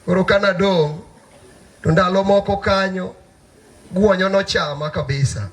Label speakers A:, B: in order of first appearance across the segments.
A: Koro ka nadong' to ndalo moko kanyo guonyo nochama kabisa.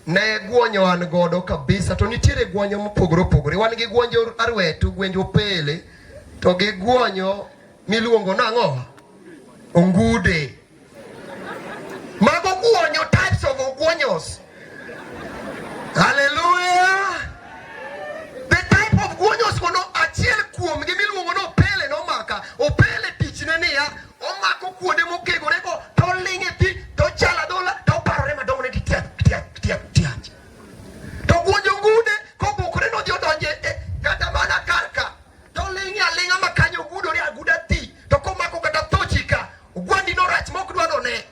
A: Ne guonyo an godo kabisa, to nitiere guonyo mopogore opogore. Wan gi guonjo arwetu, guonjo pele, to gi guonyo miluongo nang'o? Ongude. Mago guonyo, types of oguonyos. Hallelujah. The type of guonyos kono achiel kuom gi miluongo ni opele nomaka. Opele tichne niya, omako kuonde mokegore go to oling' e pi to ochalo adhola to oparore madongo ne ti tiap tiap tiap tiap. To guonyo gude kobukore nodhi odonje e kata mana kar ka to oling' aling'a ma kanyo ogudore aguda ti to komako kata tochi ka Ogwandi no rach mok dwa none.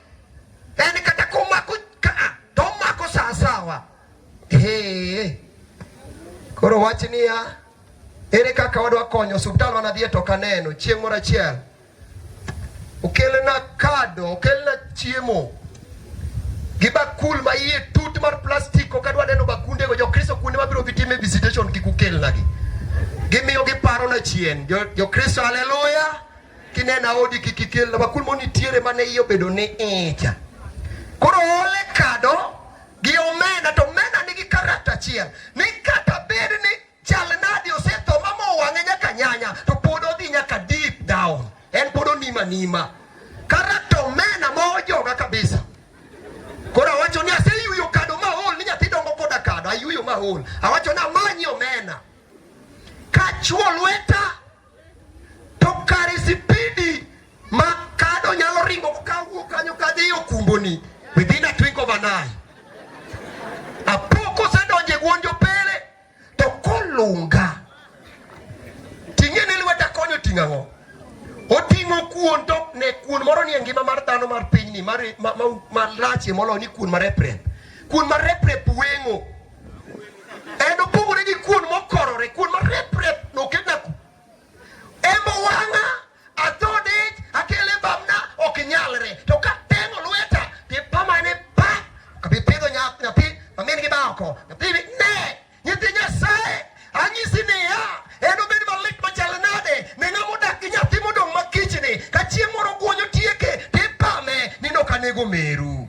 A: En kata komako ka to omako saa sawa. Hey. Koro wach niya, ere kaka wadwa konyo osiptal mana dhiye to kaneno chieng' moro achiel okelna kado okelna chiemo gi bakul ma iye tut mar plastik ok adwa neno bakundego jokristo kuonde mabiro gi time visitation kik ukelnagi gimiyo giparona chien jokristo jo haleluya kinena odi kik ikel na bakul moni tiere mane iyo bedo ni icha koro ole kado gi omena to omena nigi karata achiel ni kata bed ni chal nadi osetho ma mowang'e nyaka nyanya to pod odhi nyaka deep down en pod onima nima karata omena ma ojoga kabisa koro awacho ni aseyuyo kado maol ni nyathi dongo koda kado ayuyo maol awacho ni amanyi omena kachuo lweta To kare sipidi ma kado nyalo ringo kawuok kanyo kadhi okumboni within a twinkle of an eye. Apoko osedonjo e gwonjo pele to kolunga ting'e ni lweta konyo ting'o ang'o? Oting'o kuon to ne kuon moro nie ngima mar dhano mar pinyni malachie moloyo ni kuon mar eprep. Kuon mar eprep weng'o En opogore gi kuon mokorore, kuon ma rep rep noket na ku. Embo wanga, adhode, akele bamna, ok nyalre. To ka tengo lweta, ti pamane pa, kabi pedho nyath nyathi, mamin gi bako. Nyathi bi ne, nyathi nyasaye, anyisi ni ya, en obed malit machal nade, ne ng'ama odak gi nyathi modong' makichni, ka chieng' moro guonyo tieke, ti pame, ni nokanego meru.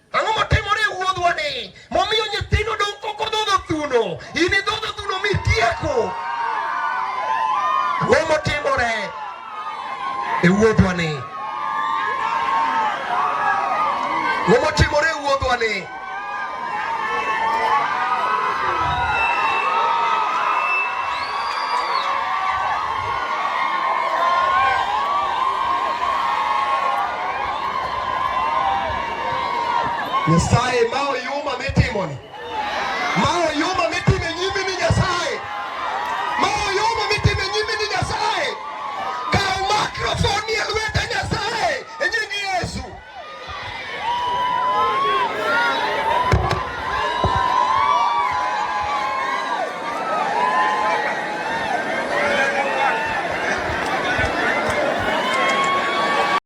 A: Ang'o motimore e wuodhwa ni momiyo nyithindo dong' koko dhodho thuno? In idhodho thuno mitieko. Ang'o motimore e wuodhwa ni? Ang'o motimore e wuodhwa ni? Nyasaye ma oyuma mitimoni ma oyuma mitime nyimi ni Nyasaye ma oyuma mitime nyimi ni Nyasaye kaw makrofon e lweta Nyasaye e nying Yesu